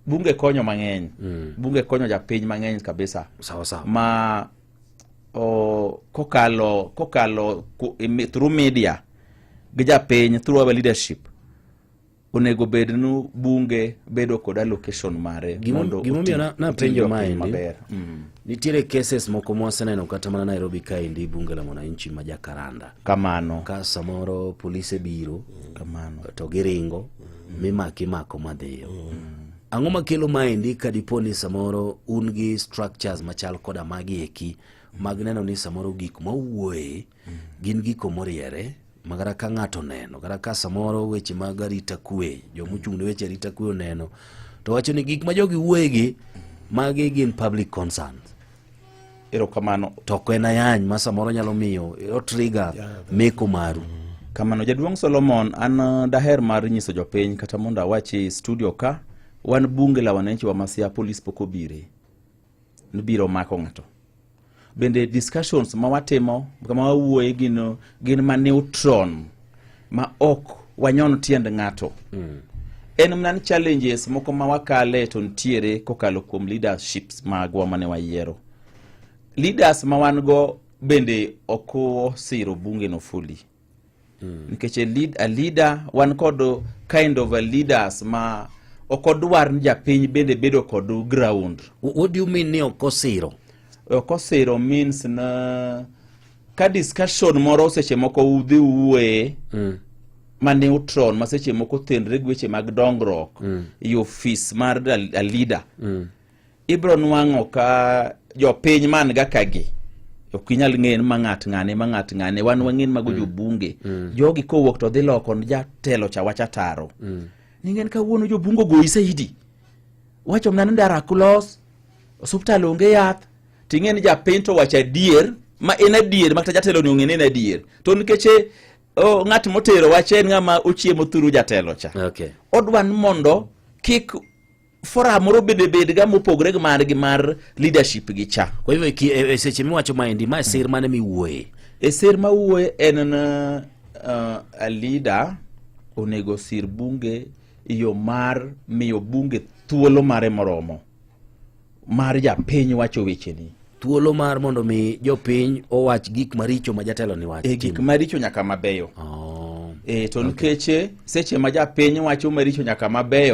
bunge konyo mang'eny mm. bunge konyo japiny mang'eny kabisa sawa sawa ma o, kokalo kokalo ku, imi, through media gi japiny through our leadership onego bed nu bunge bedo kod allocation mare Gimo- mondo gimomiyo oti- na- napenjo otigo piny maendi. maber mm. Nitiere cases moko mwaseneno kata mana Nairobi kaendi bunge la mwananchi ma jakaranda kamano ka samoro polise biro kamano to giringo mm. mimaki mako madhiyo mm. ang'o makelo maendi ka dipo ni samoro un gi structures machal koda magi eki mag neno ni samoro gik mawuoye gin gigo moriere ma kata ka ng'ato oneno kata ka samoro weche mag arita kwe jomochung' ne weche arita kwe oneno to wacho ni gik ma jogi wuoyegi magi gin public concerns erokamano to ok en ayany ma samoro nyalo miyo otriga meko maru kamano jaduong' solomon an uh, daher mar nyiso jopiny kata mondo awachi studio ka wan bunge la wananchi wa masia polis pok obire biro mako ng'ato bende discussions ma watimo kama wawuoye gin, gin ma neutron ma ok wanyon tiend ng'ato mm. en mana ni challenges moko ma wakale to nitiere kokalo kuom leaderships magwa mane wayiero leaders ma wan go bende ok osiro bunge no fully mm. nikech a, lead, a leader wan kod kind of a leaders ma ok odwar ni japiny bende bedo kod ground what do you mean ni ok osiro ok osiro means na ka discussion moro seche moko udhi uwuoye mm ma neutron ma seche moko tenre gi weche mag dongruok mm. ofis mar a leader mm. ibro nwang'o ka jopiny man ga kagi ok inyal ng'eyo ma ng'at ng'ane ma ng'at ng'ane wan wang'en mago mm. jobunge mm. jogi kowuok to dhi loko jatelo cha wacha taro mm. ningen kawuono jobunge ogoyi saidi wacho mna ni ndara kulos osuptal onge yath ting'e ni japiny to wacho adier ma en adier makata jatelo ni ong'e ni en adier to nikech eh, oh, ng'at motero wache en ng'ama ochiemo thuru jatelo cha okay. odwa ni mondo kik forum moro bende bedga mopogore gi mar gi mar leadership gi cha kwa hivyo ki- e- e- seche miwacho maendi ma sir mane miwuoye e ser ma wuoye en uh, a leader onego sir bunge e yo mar miyo bunge thuolo mare moromo mar japiny wacho wecheni thuolo mar mondo mi jopiny owach gik maricho ma jatelo ni wach e gik timo. maricho nyaka mabeyo Oh. e to nikech eh, seche ma japiny wacho maricho nyaka mabeyo